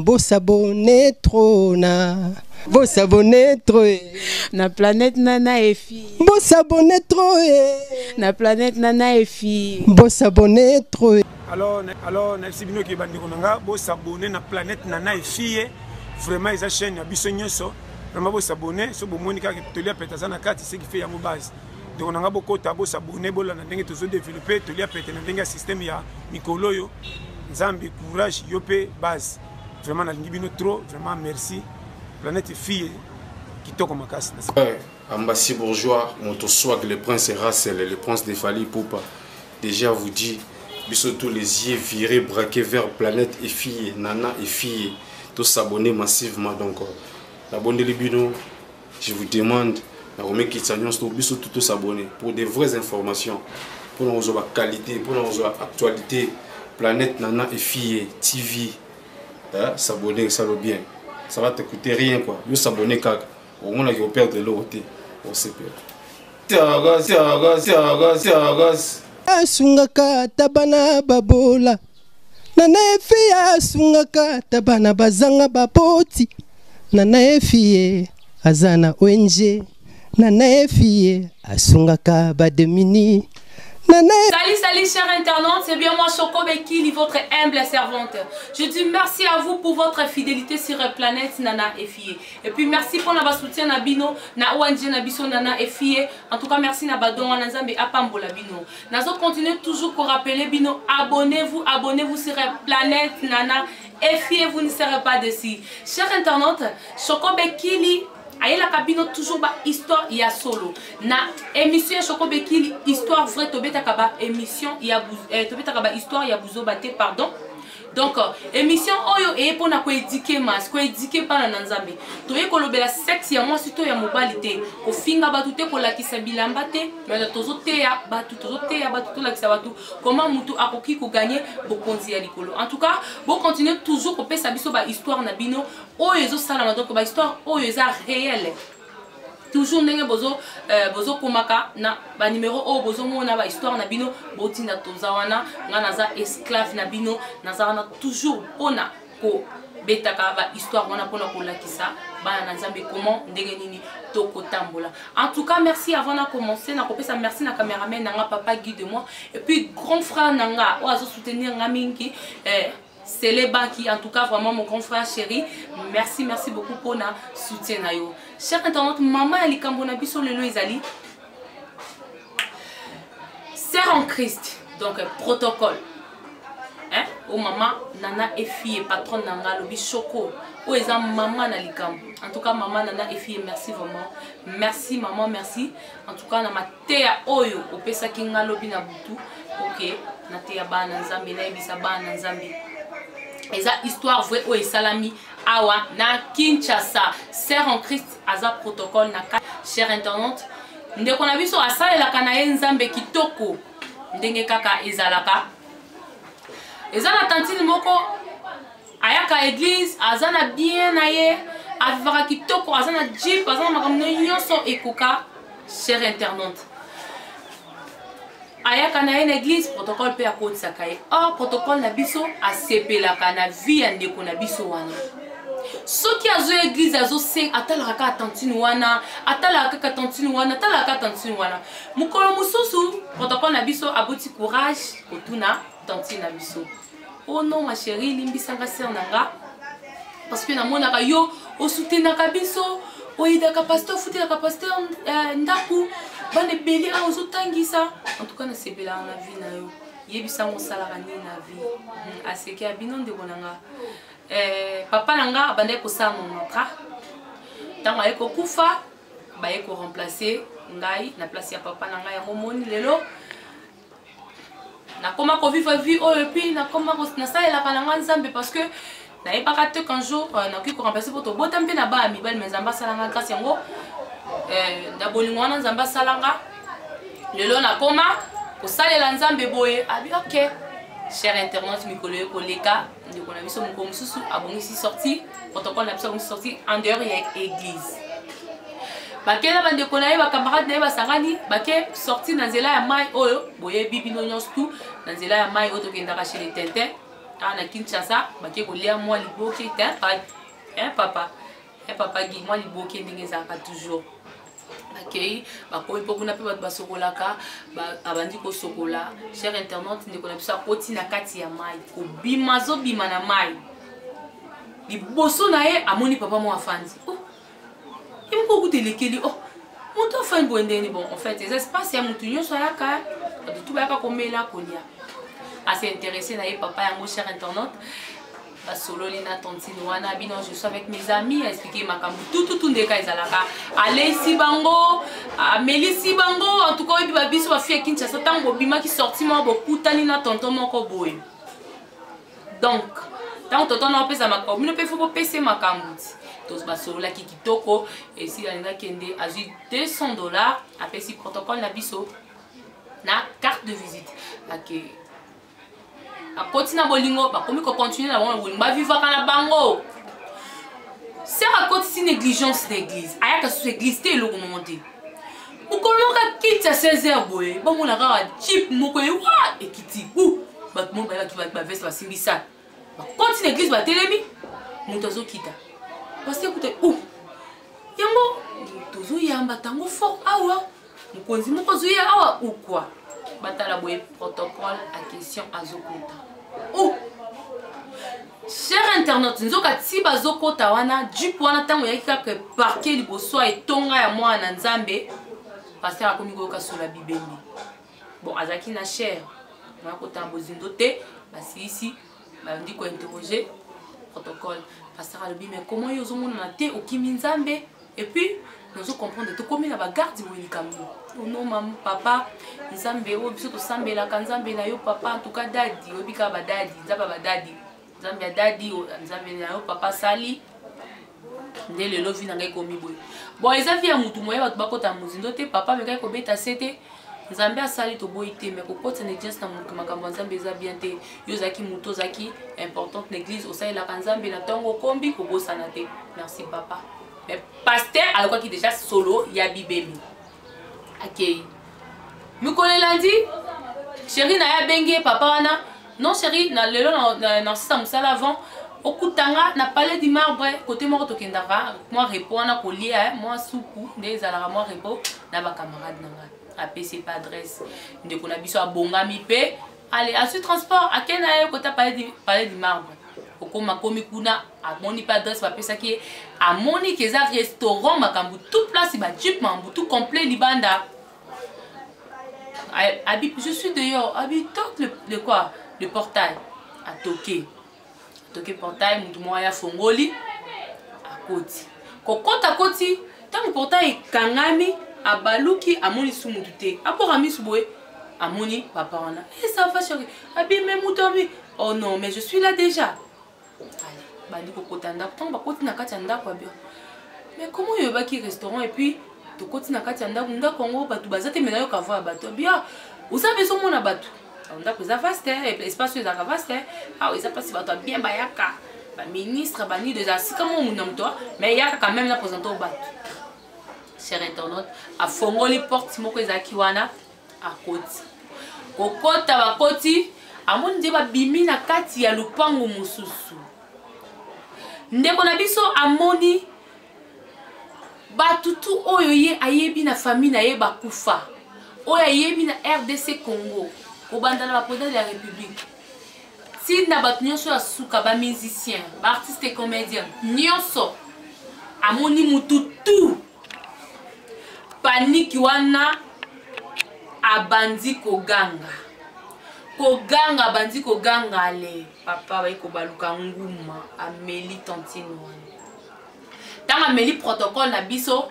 bosabone trop na bosabone trop eh. na planète nana efi bosabone trop eh. na planète nana efi bosabone trop eh. alors alors nayebisi bino ke bandeko na nga bosabone na planète nana efi ye vraiment eza chaîne ya biso nyonso vraiment bosabone so bomoni kaka toli ya pete aza na kati ce qui fait yango base ndeko na ngai bokota bosabone bolanda ndenge tozo developpe tolia pete na ndenge ya systeme ya mikolo oyo nzambe courage yo mpe base vraiment nalingi bino trop vraiment merci planète fille kitoko makasi eh, ambassy bourgeois moto swag le prince rasel le prince de fali poupa déjà vous dit biso tous les yeux virés braqués vers planète et fille nana et fille tosabonne massivement donc euh, nabondeli bino je vous demande na komikitisa nyonso to biso tout tosabonne pour des vraies informations mpona kozwa baqualité mpona kozwa actualité planète nana efille tv eh, s'abonne esalo bien ça va te coûter rien quoi yo s'abonne kaka omonaki operdre eloko te osepela tiagas tiagas tiagas tiagas asungaka ata bana babola na na efi asungaka ata bana bazanga baboti na na efi ye aza na ong na na efi ye asungaka bademini Salut, salut, chers internautes, c'est bien moi, Choco Bekili, votre humble servante. Je dis merci à vous pour votre fidélité sur la planète Nana Efie. Et puis merci pour notre soutien Nabino, na ONG Nabiso Nana Efie. En tout cas, merci Nabadon, Nazambe Apambo Labino. nazo continuer toujours ko rappeler bino abonnez-vous abonnez-vous sur la planète nana et fiez-vous ne serez pas déçu cher internaute choco bekili ayelaka bino toujours ba histoire ya solo na émission ya choco bekili histoire vrai tobetaka ba émission ya euh, tobetaka ba histoire ya buzoba te pardon donc euh, émission oyo eye mpo na koedike mas koedike bana na nzambe toye kolobela sexe ya mwasi to ya mobali te kofinga bato te kolakisa bilamba te mais tozoteya bato tozoteya bato tolakisa bato koma motu akoki koganye bokonzi ya likolo en tout cas bocontinue toujours kopesa biso bahistoire na bino oyo ezosalama donc bahistoire oyo eza réelle toujours ndenge bozo euh, bozokomaka na banimero oyo bozomona bahistoire na bino botinda toza wana ngai naza esclave na bino naza wana toujours mpona kobetaka bahistoire wana mpona kolakisa bana na nzambe comment ndenge nini tokotambola en tout cas merci avant na commencer nakopesa merci na cameraman na nga papa guy de moi et puis grand frère na nga oyo azosoutenir nga mingi eh, Sele Baki, en tout cas vraiment mon grand frère chéri, merci merci beaucoup pour na soutien na yo. Chers internautes, maman ya likambo na biso lelo ezali sœur en Christ, donc protocole. Hein? Oh maman, nana et fille, patronne nanga lobi choco. Oh eza maman na likambo. En tout cas maman nana et fille, merci vraiment. Merci maman, merci. en tout cas na mateya oyo opesaki nga lobi na butu oke nateya bana nzambe nayebisa bana nzambe eza histoire vraie oyo esalami awa na kinshasa sœur en christ aza protocole na chère intendante ndeko na biso asalelaka na ye nzambe kitoko ndenge kaka ezalaka eza na tantine moko ayaka eglise aza na bien na ye avivaka kitoko aza na jeep aza na makambo na nyonso ekoka chere internaute ayaka na ye na eglise protocole mpe akotisaka ye or protocole na biso asepelaka na vie ya ndeko na biso wana soki azo eglise azose atalaka kaka tantine wana atalaka kaka tantine wana atalaka kaka tantine wana mokolo mosusu protocole na biso aboti courage kotuna tantine na biso oh non ma chérie limbisanga sœur na nga parce que namonaka yo osutenaka biso oyidaka pasteur ofutelaka pasteur euh, ndako bana ebele awa ozotangisa en tout cas nasepelaka na vie na yo yebisa yango osalaka nini na vie hmm, aseki ya bino ndeko na nga eh, papa na nga abandaki kosala monatra ntango aye kokufa baye koremplace ngai na place ya papa na ngai yango omoni lelo nakoma kovivre vie oyo epuis nakoma nasalelaka na ngai nzambe parce que nayebaka te qu'un jour euh, nakoki koremplace mpo tobota mpe na bana mibali me nzambe asala ngai kasi yango euh, na bolingo wana nzambe asala nga lelo nakoma kosalela nzambe boye abi ok cher internet mikolo ye koleka ndeko na biso moko mosusu abongisi sorti protocole na biso abongisi sorti en dehors ya église bake na bandeko na ye bacamarade na ye basangani bake sorti na nzela ya mai oyo boyebi bino nyonso tu na nzela ya mai oyo tokendaka chez le tintin awa na kinshasa bake kolia mwa liboke te papa ya papa gi mwa liboke ndenge ezalaka toujours akei bakomi mpo kuna mpe bato basokolaka abandi kosokola cher internaute ndeko na biso akoti na kati ya mai kobima azobima na mai liboso na ye amoni papa mwa afandi oh, ye moko okuta elekeli oh, moto afandi boye ndeni bon en fait eza espace ya motu nyonso ayaka bato tu bayaka komela kolia ase interesse na ye papa yango cher internaute basololi na tontine wana bino je suis avec mes amis aexplike makambo tututu ndeka ezalaka aleisi bango amelisi bango antuka oyebi babiso bafi ya kinshasa ntango bobimaki sorti moko bokutani na tonto moko boye donc ntango tonto na opesa makambo bino mpe fo bopese makambo ti basololaki kitoko esi alingi akende azwi 200 dollars apesi protocole na biso na carte de visite ake okay. bakoti na bolingo bakomi kocontinue na bango na bolingo bavivaka na bango sere akotisi négligence na église ayaka susu église te eloko moko te mokolo moko akiti ya 16 heure boye bomona kaka jip moko ye wa ekiti u bato moko baye bato baveste basimbi sale bakoti na église batelemi moto azokita pasi ekuta u yango tozoyamba tango fort awa mokonzi moko ozwi ye awa ou quoi batala boye protocole a question azokota ou oh! cher internaute nzoka ti bazokota wana jupe wana ntango eyaki kaka eparke liboso ya etonga ya mwana na nzambe paster akomi koyoka sola bibembe bon azalaki na cher naya kotala bozindo te basilisi bandi kointerroge protocole paster alobi me koma yo ozomonana te okimi nzambe et puis nazo comprendre tokomi na bagarde boye likambo ono oh mam papa nzambe oyo oh, biso tosambelaka nzambe na yo papa antuka dadi oyebi kaka badadi nzambe ya badadi nzambe ya dadi oh, nzambe na yo papa sali nde lelo vi na ngai ekomi boye bon eza vi ya motu moye bato bakota mozindo te papa amekaki kobeta se te nzambe asali toboyi te me kokotisa na eglise na moto makambo ya nzambe eza bien te yo ozalaki moto ozalaki importante na eglise osalelaka nzambe na ntongo okombi kobosana te merci papa me paster ayokaki deja solo ya bibemi akei mikolo elandi sheri na ye abengi ye papa wana non chérie na lelo na na sisa musala avant okutanga na palais du marbre kote moko tokendaka mwa repo wana kolia eh, mwa supu nde ezalaka mwa repo na bacamarade na ngai apesi epa adresse ndeko na biso abongami mpe ale azwi transport ake na ye kota palais du marbre okoma komi kuna amoni mpe adresse bapesaki ye amoni ke eza restaurant makambo tout place bajipe makambo tout complet libanda Abi, je suis dehors. Abi, toque le, le quoi Le portail. A toquer. Toquer portail, mutu moko ya fongoli. Akoti. Kokota koti, ntango portail ekangami, abaluki, amoni su mutu te. Abwaka misu boye, amoni papa wana. Eh, ça va chérie. Abi, mais mutu abi. Oh non, mais je suis là déjà. bandi kokota ndako ntango bakoti na kati ya ndako ya biro mais koma oyebaki restaurant epuis tokoti na kati ya ndako ndako yango bato baza te mena yoka voi ya bato bia oza mpe ezomona bato ndako eza vaste espace oyo ezalaka vaste awa eza mpasi bato ya bien bayaka baministre banido eza sika mo muna moto mais eyaka quand même na présente o bato cher internaute afongoli porte moko ezalaki wana akoti kokota bakoti amoni nde babimi na kati ya lopango mosusu ndeko na biso amoni bato tu oyo ye ayebi na famille na ye bakufa oyo ayebi na rdc congo kobanda na bapresident de la république ti na bato nyonso ya suka bamusicien baartiste comédien nyonso amoni mutu tu paniki wana abandi koganga koganga abandi koganga ale papa bayi kobaluka nguma ameli tantine wana ntango ameli protocole na biso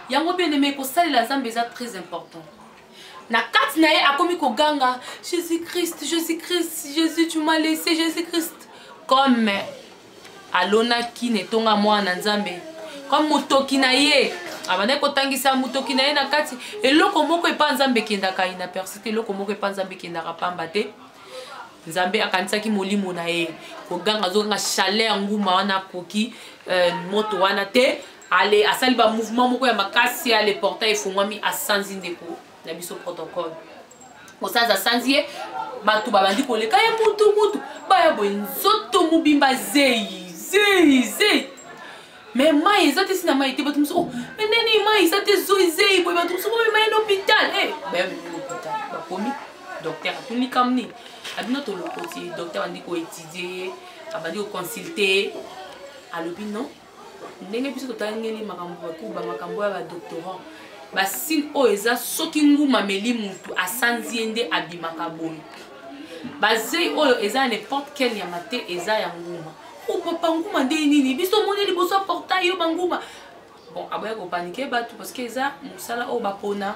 yango bieneme kosalela nzambe eza très important na kati na ye akomi koganga jésus christ jésus christ jésus tu m'as laissé jésus christ comme alonaki na etonga mwana na nzambe kwa motoki na ye abandaki kotangisa motoki na ye na kati eloko moko epa nzambe ekendaka inaperci te eloko moko epa nzambe ekendaka pamba te nzambe akanisaki molimo na ye koganga azoganga chaleur nguma wana akoki euh, moto wana te ale asali bamouvement moko ya makasi ale portail efungwami asanzi ndeko na biso protocole mosala aza sanzi ye bato babandi koleka ye mutu mutu baya boye nzoto mobimba zeyi zeyi zeyi me mai eza te si na mai te bato mosusu oh, me ndeni mai eza te zoi zeyi boye bato mosusu boye mai na hôpital e eh, baya memi hôpital bakomi docteur atuni likambo nini abino tolokoti docteur abandi koetudie ye abandi koconsulte ye alobi non ndenge biso totangeli makambo ya kuba makambo ya badoctorant basine oyo eza soki nguma meli mutu asanzi ye nde abimaka boye bazei oyo eza ya n'importe quel nyama te eza ya nguma obopa nguma nde nini biso omoni liboso ya portail yo banguma bon aboya kopanike bato parce que eza mosala oyo bapona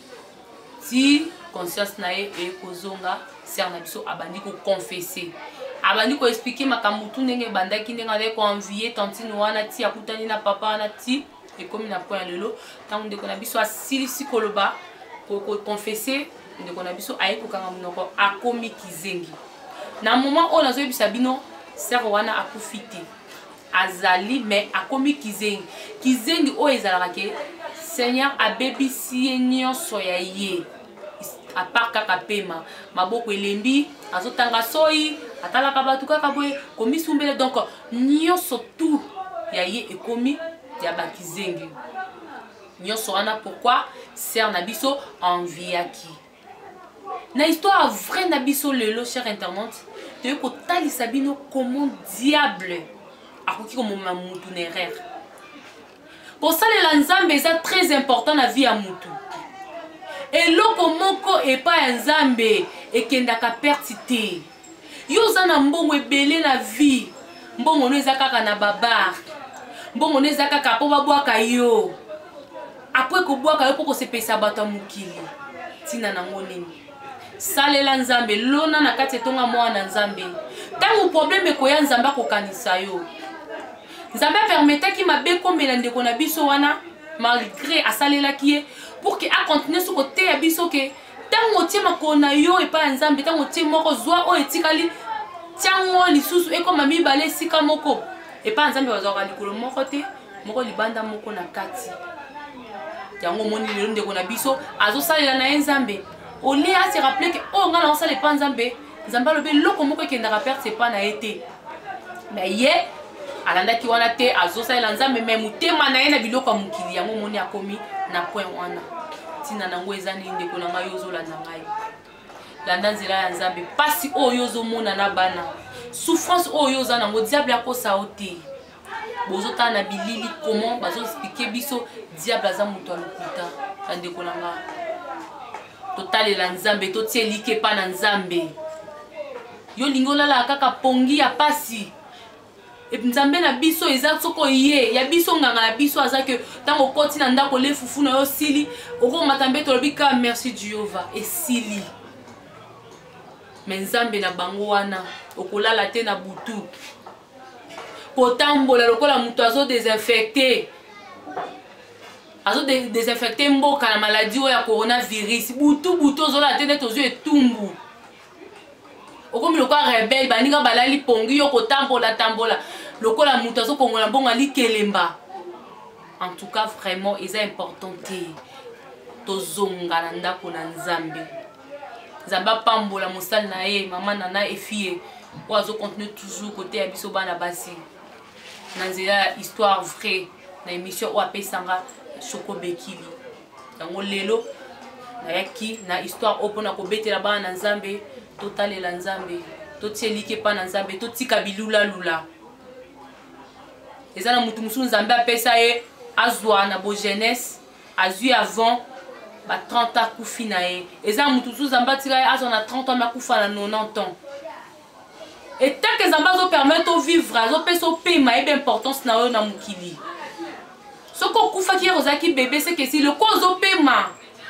ti conscience na ye ekozonga ser na biso abandi koconfese abandi koexplike makambo tu ndenge ebandaki ndenge azali koenvie tantine wana ti akutani na papa wana ti ekomi na point ya lelo ntango ndeko na biso asilisi koloba koconfese ndeko na biso aye kokanga monoko akomi kizengi na moment oyo nazoyebisa bino ser wana akufi te azali me akomi kizengi kizengi oyo ezalaka ke seigneur abebisi ye nyonso ya ye apart kaka pema maboko elembi azotanga soyi atalaka bato kaka boye komisumbele donc nyonso tout ya ye ekomi ya bakizengi nyonso wana pourkui ser na biso enviaki na histoire vrai na biso lelo cher internaute toyei kotalisa bino comment diable akoki komomema mutu na erreur kosalela nzambe eza très important na vie ya mutu eloko moko epai ya nzambe ekendaka perte te yo oza na mbongo ebele na vie mbongo no eza kaka na babar mbongo no eza kaka mpo babwaka yo apo ekobwaka yo mpo kosepelisa bato ya mokili ntina nango nini salela nzambe lona na kati etonga mwana na nzambe ntango probleme ekoya nzambe akokanisa yo nzambe apermetaki mabe komela ndeko na biso wana malgre asalelaki ye pour ke akontinue so koteya biso ke ntango otie makolo na yo epai ya nzambe ntango otie moko zwa oyo etikali ntiango lisusu ekoma mibale esika moko epai ya nzambe bazwaka likolo moko te moko libanda moko na kati yango omoni lelo ndeko na biso azosalela na ye nzambe olie asi rappele ke oyo oh, ngai naosala epai nzambe nzambe alobi eloko moko ekendaka perte epa na ye te me ye alandaki wana te azosalela nzambe me motema na ye na biloko ya mokili yango omoni akomi na point wana ntina na yango eza nini ndeko na ngai yo ozolanda ngai landa nzela ya nzambe mpasi oyo ozomona na bana souffrance oyo oza nango diable akosa yo te bozotala na bilili comment bazoexplike biso diable aza moto ya lokuta bandeko na nga totalela nzambe totie like epa na nzambe yo olingi olalaka kaka pongi ya pasi nzambe na biso eza soko ye ya biso nganga ya biso aza ke ntango okoti na ndako le fufu na yo osili okomata mbe tolobi ka merci jehova esili me nzambe na bango wana okolala te na butu kotambola lokola moto azo desinfecte azo desinfecte mboka na maladi oyo ya coronavirus butu butu ozolala te neti ozwi etumbu okomi lokola rebele baninga balali pongi yo kotambola tambola lokola moto azokongola mbongo alikelemba en tout cas vraiment eza important te tozonga na ndako na nzambe nzambe apambola mosali na ye mama nana efie oyo azocontinue toujours koteya biso bana basi na nzela ya histoire vraie na émission oyo apesanga soko bekili yango lelo nayaki na histoire oyo mpona kobetela bana na nzambe totalela nzambe totie eliki epai na nzambe totika bilulalula eza na motu mosusu nzambe apesa ye azwa na bogenese azwi avant ba 30 ans akufi na ye eza moto mosusu zambe atika ye azwa na 30 ans me akufa na 90 ans etake zambe azopermettre ovivre azopesa opema yebe importance na oyo na mokili soki okufaki yaka ozalaki bebe seke esi loko ozopema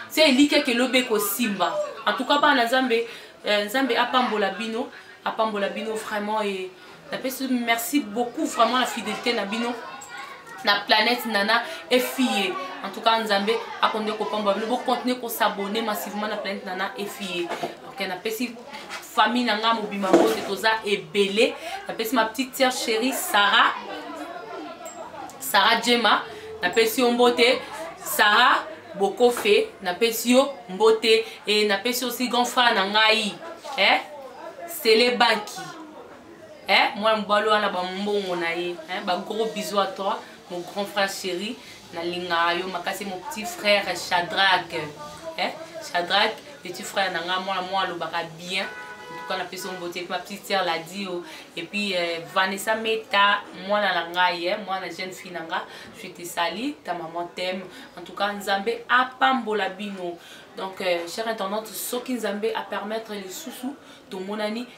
se elikiaka elobi ekosimba en tout cas bana nzambe eh, nzambe apambola bino apambola bino vraiment e napesi merci beaucoup vraiment na fidélité na bino na planète nana efie en tout cas nzambe akonde kopamba bino bocontinue kosabone massivement na planète nana efie ok napesi famille na ngai mobima mbote toza ebele napesi ma petite sœur chérie sarah sarah jema napesi yo mbote sarah bokofe napesi yo mbote e napesi osi grand frère na ngai eh? sele banki eh, mwana mobali wana bambongo na ye eh, bagros bisou à toi mon grand frère chéri nalingaka yo makasi mon petit frère chadrak eh, chadrak petit frère na ngai mwana mwa alobaka bien ntuka napesi yo mbote epi ma petite sœur ladi yo epuis eh, vanessa meta mwana na ngai eh, mwana jeune fille na ngai je te sali ta maman teme en tout cas nzambe apambola bino donc euh, cher intendante soki nzambe apermettre lisusu tomonani